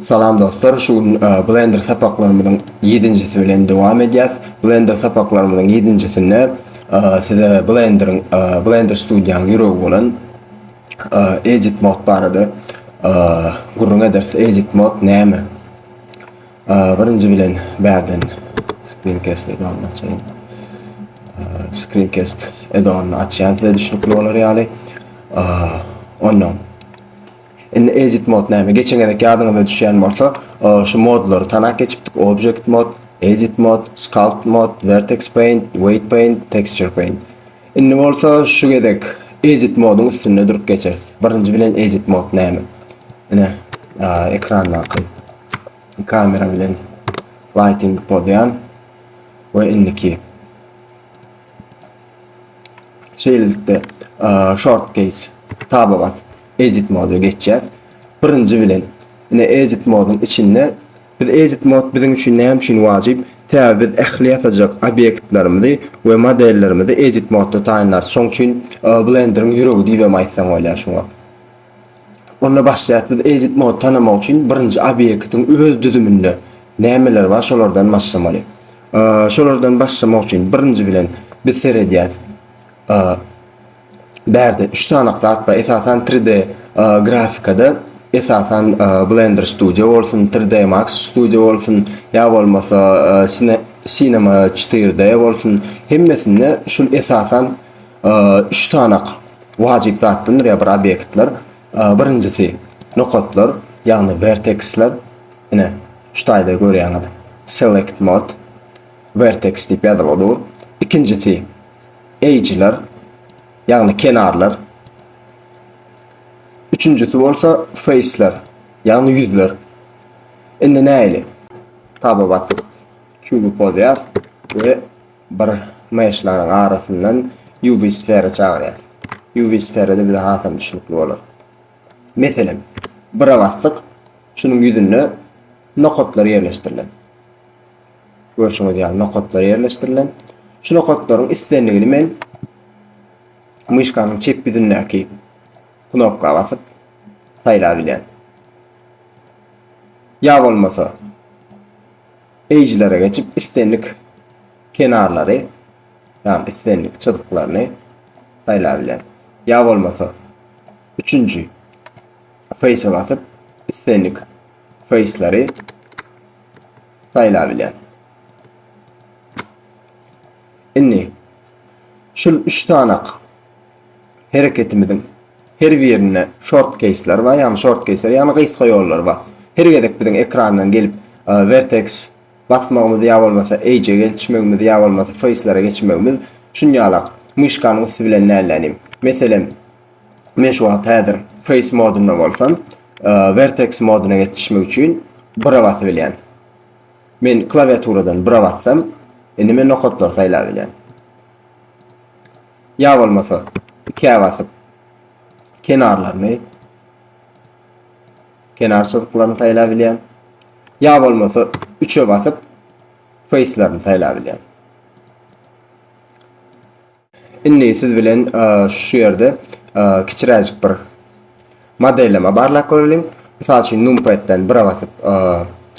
Salam dostlar, şu gün e, Blender sapaklarymyzyň 7-njisi bilen dowam edýäs. Blender sapaklarymyzyň 7-njisinde e, size Blenderyň, e, Blender studiýanyň ýüregi bolan e, Edit mod barada gürrüň ederis. Edit mod näme? Birinji bilen bärden screencast edonyny açaýyn. Screencast edonyny açýan size düşnükli bolar ýaly. Ondan Indi edit mode näme? Geçen gezek ýadyňyza düşýän bolsa, şu modlary tanap geçipdik, Object mode, Edit mode, Sculpt mode, Vertex paint, Weight paint, Texture paint. Indi bolsa şu gezek Edit moduň üstünde durup geçeris. Birinji bilen Edit mode näme? Ine, ekrandaky kamera bilen lighting pozýan we indiki Şeýlelikde, short case taba basyp, edit moda geçýäs. Birinji bilen, ine edit moduň içinde biz edit mod biziň üçin näme üçin wajyp? Sebäbi biz ähli ýasajak obýektlerimizi we modellerimizi edit modda taýynlarys. Şoň üçin Blender-iň ýüregi diýibem aýtsaň bolýar şuňa. Onda başlaýas biz Ejit Mody tanamak üçin birinji obýektiň öz düzüminde nämeler bar şolardan başlamaly. Şolardan başlamak üçin birinji bilen biz seredýäs. Bärde 3 sany zat bar. Esasan 3D grafikada esasan Blender Studio bolsun, 3D Max Studio bolsun, ýa bolmasa Cinema 4D bolsun, hemmesinde şul esasan üç sanak wajyp zatdandyr ýa bir obýektler. Birinjisi nokatlar, ýagny verteksler. Ine, şu taýda görýäňiz. Select mod vertex diýip ýazylyp dur. Ikinjisi edge'ler, ýagny kenarlar. Üçünjisi bolsa face'ler, ýagny ýüzler. Indi näili? Taba basyp, kübi pozýar we Bir myşlaryň arasyndan UV sfera çagyrýas. UV sferada bize hasam düşnükli bolar. Meselem, bira basdyk, şunuň ýüzünde nokatlar ýerleşdirilen. Görşüňiz ýaly nokatlar ýerleşdirilen. Şu nokatlaryň islendigini men myşkanyň çep ýüzündäki knopka basyp saýlap bilýän. Ýa bolmasa Edge-lere geçip islendik kenarlary, ýagny islendik çyzyklaryny saýlap bilerin. Ýa bolmasa üçünji face-e basyp islendik face-lary saýlap bilerin. Indi şul 3 tanak hereketimiziň her birinde short keýsler bar, ýagny short keýsler, ýagny gysga ýollar bar. Her gezek biziň ekrandan gelip e, vertex basmagymyz ýa bolmasa edge geçmegimiz ýa bolmasa face'lere geçmegimiz şunýalak myşkanyň üsti bilen nälenim. Meselem, men şu wagt häzir face modunda bolsam, e, vertex moduna geçişmek üçin bira basyp bilýän. Men klawiaturadan bira bassam, indi men nokatlary saýlap bilýän. Ýa bolmasa, ikä basyp, kenarlaryny, kenar çyzyklaryny saýlap bilýän. Ýa bolmasa, üçe basyp, face-lerini saýlap bilýän. Indi siz bilen şu ýerde kiçiräjik bir modelleme barlap göreliň. Mysal üçin numpad-den bire basyp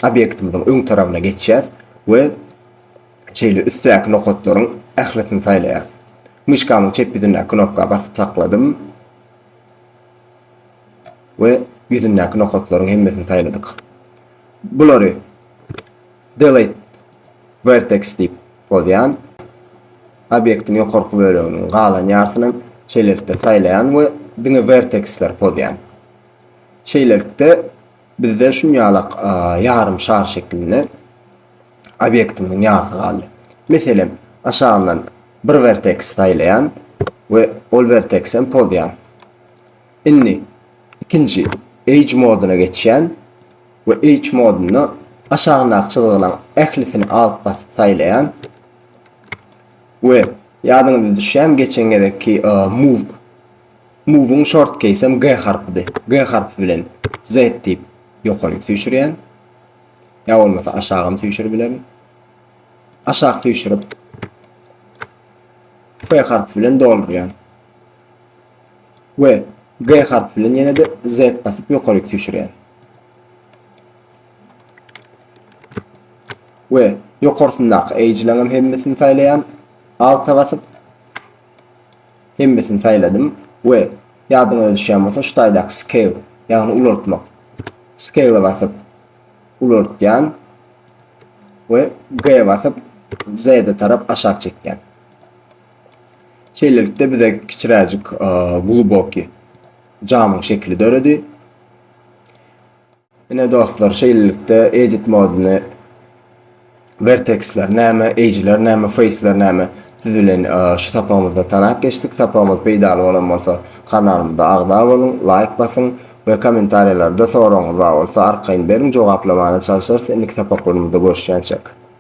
obýektimiziň öň tarabyna geçýäs we Şeýle üstdäki nokatlaryň ählisini saýlaýas. Myşkamyň çep ýüzündäki knopka basyp sakladym we ýüzündäki nokatlaryň hemmesini saýladyk. Bulary delete vertex diýip bozýan. Obýektiň ýokarky böleginiň galan ýarsyny şeýlelikde saýlaýan we diňe vertexler pozýan. Şeýlelikde bizde şunýalak ýarym şar şeklinde obýektimiziň ýarysy galdy. Meselem, aşagyndan bir werteksi saýlaýan we ol werteksi hem pozýan. Indi ikinji Edge modyna geçýän we Edge modunda aşagyndaky çyzgylaryň ählisini Alt basyp saýlaýan we ýadyňyza düşýärmi geçen gezekki e, move move-iň short keýsem G harpydy. G harpy bilen Z diýip ýokary süýşürýän. Ýa bolmasa aşagam süýşüribilerin. Aşak süýşürip F harpy bilen doldurýan. We G harpy bilen ýene de Z basyp ýokaryk süýşürýän. We ýokarsyndaky eýjileňem hemmesini saýlaýan. Alta basyp Hemmesini saýladym we ýadyňyza düşýän bolsa şu taýdaky scale ýagny ulaltmak scale-e basyp ulaltýan we G-e basyp Z-e tarap aşak çekýän. Şeýlelikde bize kiçiräjik gluboki jamyň şekili döredi. Ine dostlar şeýlelikde edit moduny verteksler näme, eýjiler näme, feýsler näme siz bilen şu sapagymyzda tanap geçdik. Sapagymyz peýdaly bolan bolsa kanalymyza agza boluň, laýk basyň we kommentariýalarda soragyňyz bar bolsa arkaýyn beriň jogaplamana çalyşarys indiki sapaklarymyzda görüşýänçek.